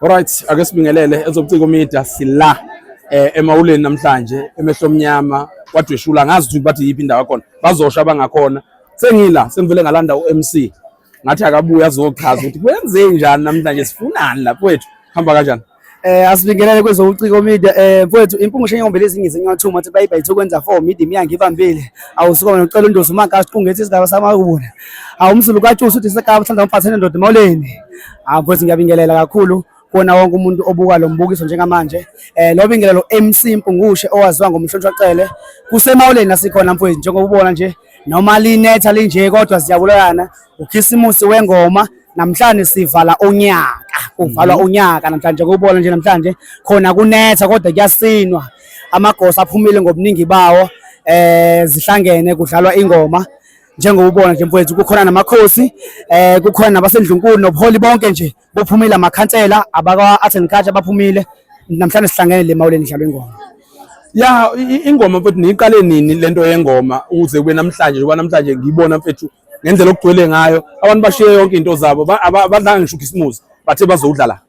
Alright, ake sibingelele ezobuciko media sila eh emawuleni namhlanje emehlo omnyama kwadweshula ngazi ukuthi bathi yiphi indawo yakhona bazosha abangakhona sengila sengivele ngalanda uMC ngathi akabuya azochaza ukuthi kwenze njani namhlanje sifunani lapho wethu hamba kanjani Eh asibingelele kwezobuciko media eh mfowethu impungu shenyombe lezinye zinyathuma ukuthi bayiba ithu kwenza for media miyange ibambile awusuka nocela undosi umaka siqungethe isigaba samawubona awumsulu kaTshusi uthi sekaba uthanda umfathene ndoda emawuleni Ah mfowethu ngiyabingelela kakhulu kuwona wonke umuntu obuka lo mbukiso njengamanje. Eh lo bingelelo MC Mpungushe owaziwa ngomhlonishwa Cele. Kusemawuleni nasikhona mfowethu njengoba ubona nje noma linetha linje kodwa siyabulayana ukhisimusi wengoma namhlanje sivala unyaka kuvalwa mhm. unyaka namhlanje kubona nje namhlanje khona kunetha kodwa kuyasinwa amagosa aphumile ngobuningi bawo eh zihlangene kudlalwa ingoma njengoba ubona nje mfowethu kukhona namakhosi eh kukhona nabasendlunkulu nobuholi bonke nje bophumile amakhansela abakwa art and culture baphumile namhlanje sihlangene le mawuleni njalo ingoma ya ingoma mfethu niyiqale nini lento yengoma ukuze kube namhlanje njengoba namhlanje ngiyibona mfethu ngendlela okugcwele ngayo abantu bashiye yonke into zabo abadlanga ngisho ukhisimuzi bathe bazowudlala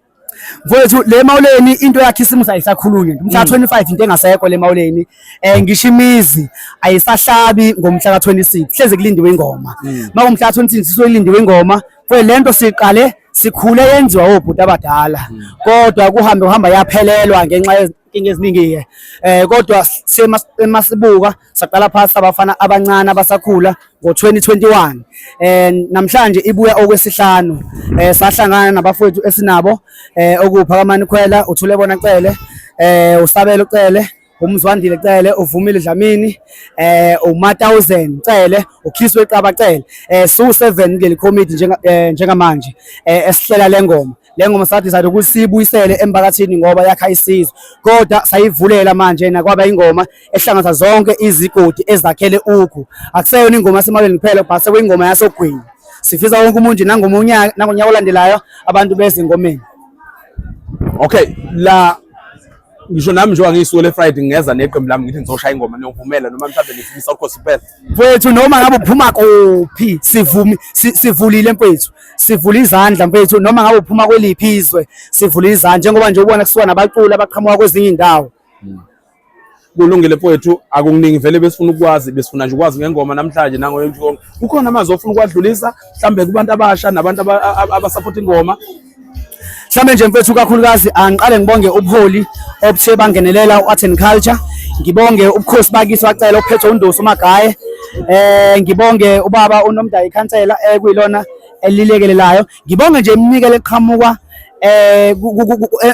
Mfowethu le mawuleni into yakhe isimusa ayisakhulunywe ngomhla 25 mm. into engasekho le mawuleni eh ngisho imizi ayisahlabi ngomhla ka 26 hleze kulindiwe ingoma mm. makumhla 26 sizoyilindiwe ingoma kwe lento siqale sikhule yenziwa obhuti abadala mm. kodwa kuhambe uhamba yaphelelwa ngenxa inkinga eziningi-ke eh kodwa emasibuka saqala phasi abafana abancane abasakhula ngo-2021 eh namhlanje ibuya okwesihlanu eh sahlangana nabafowethu esinabo eh okuphakamani khwela uthule bona cele eh usabelo cele umzwandile cele uvumile dlamini eh uma 1000 cele ukhiswe iqaba cele eh su 7 ngeli committee njenga eh, njengamanje eh esihlela lengoma le ngoma sadizayida ukuthi siyibuyisele emphakathini ngoba yakha isizwe kodwa sayivulela manje nakwaba ingoma ehlanganisa zonke izigodi ezakhele ukhu akuseyona ingoma yasemalweni kuphela but sekuyingoma yasogwini sifisa wonke umuntu nangomonyaka nangonyaka olandelayo abantu beze engomeni okay la ngisho nami njengoba ngiyisuku le-friday ngingeza neqembu lami ngithi ngizoshaya ingoma niyovumela noma mhlawumbe nifisa ukhosi kuphela mfwethu noma ngabe uphuma kuphi sivumi sivulile mfwethu sivula izandla mfwethu noma ngabe uphuma kweliphi izwe sivula izandla njengoba nje ubona kusuka nabaculi abaqhamuka kwezinye indawo hmm. kulungile mfowethu akukuningi vele besifuna ukwazi besifuna nje ukwazi ngengoma namhlanje nangoyonke kukhona amazwi ofuna ukuwadlulisa mhlambe kubantu abasha nabantu abasapota ingoma Mhlawumbe nje mfethu kakhulukazi angiqale ngibonge ubuholi obuthe bangenelela u-Art and Culture. Ngibonge ubukhosi bakisi wacela okuphethwe uNdosi uMagaye. Eh ngibonge ubaba uNomdayi ikhansela ekuyilona elilekelelayo. Ngibonge nje iminikelo eqhamuka eh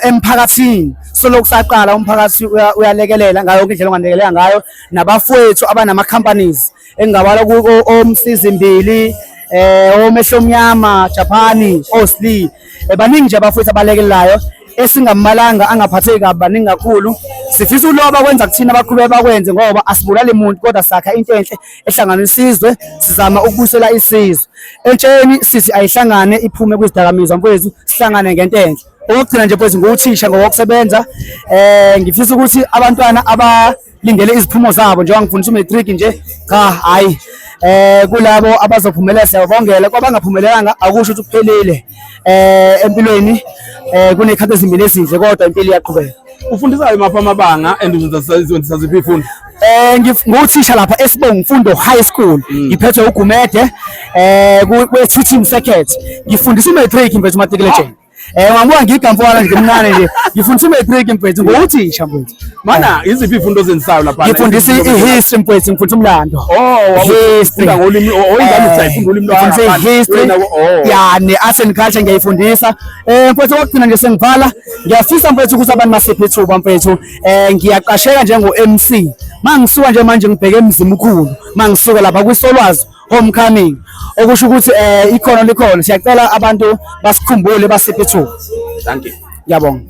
emphakathini solokhu saqala umphakathi uyalekelela ngayo indlela ongalekelela ngayo nabafowethu abanama companies engingabala omsizimbili eh omehlo omnyama Japani Osli eh, baningi nje abafowethu abalekelayo esingambalanga angaphatheki kabi baningi kakhulu sifisa uloba kwenza kuthina abaqhube bakwenze ngoba asibulali muntu kodwa sakha into enhle ehlangana isizwe sizama ukubusela isizwe entsheni sithi ayihlangane iphume kwizidakamizwa mfowethu sihlangane ngento enhle okugcina nje mfowethu nguthisha ngokusebenza eh ngifisa ukuthi abantwana aba lindele iziphumo zabo njengoba ngifundisa umatric nje cha hayi eh kulabo abazophumelela siyabongela kwabangaphumelelanga akusho ukuthi kuphelile eh empilweni eh kunekhathi ezimbili ezinhle kodwa impilo iyaqhubeka ufundisayo mapha amabanga and uzenzisa ziphi ifundo eh nguthisha lapha esibonga imfundo high school mm. ngiphethwe ugumede eh kwe-teaching circuit ngifundisa i-matric mfethu umatriculation Eh wambuka ngiga mfowala nje mncane nje. Ngifundisa uma break mfethu ngokuthisha mfethu. Mana iziphi ifundo ozenzayo lapha? Ngifundisa i-history mfethu ngifundisa umlando. Oh history ngolimi oyingane oh, usayifunda eh, ulimi lwakho. Ngifundisa history. Oh. Ya ne art and culture ngiyayifundisa. Eh mfethu okugcina nje sengivala. Ngiyafisa mfethu ukuthi abantu masiphe ithuba mfethu. Eh ngiyaqasheka njengo MC. Mangisuka nje manje ngibheke emzimkhulu. Mangisuka lapha kwisolwazi homecoming okusho ukuthi eh ikhono likhona siyacela abantu basikhumbule basiphe ithuba thank you ngiyabonga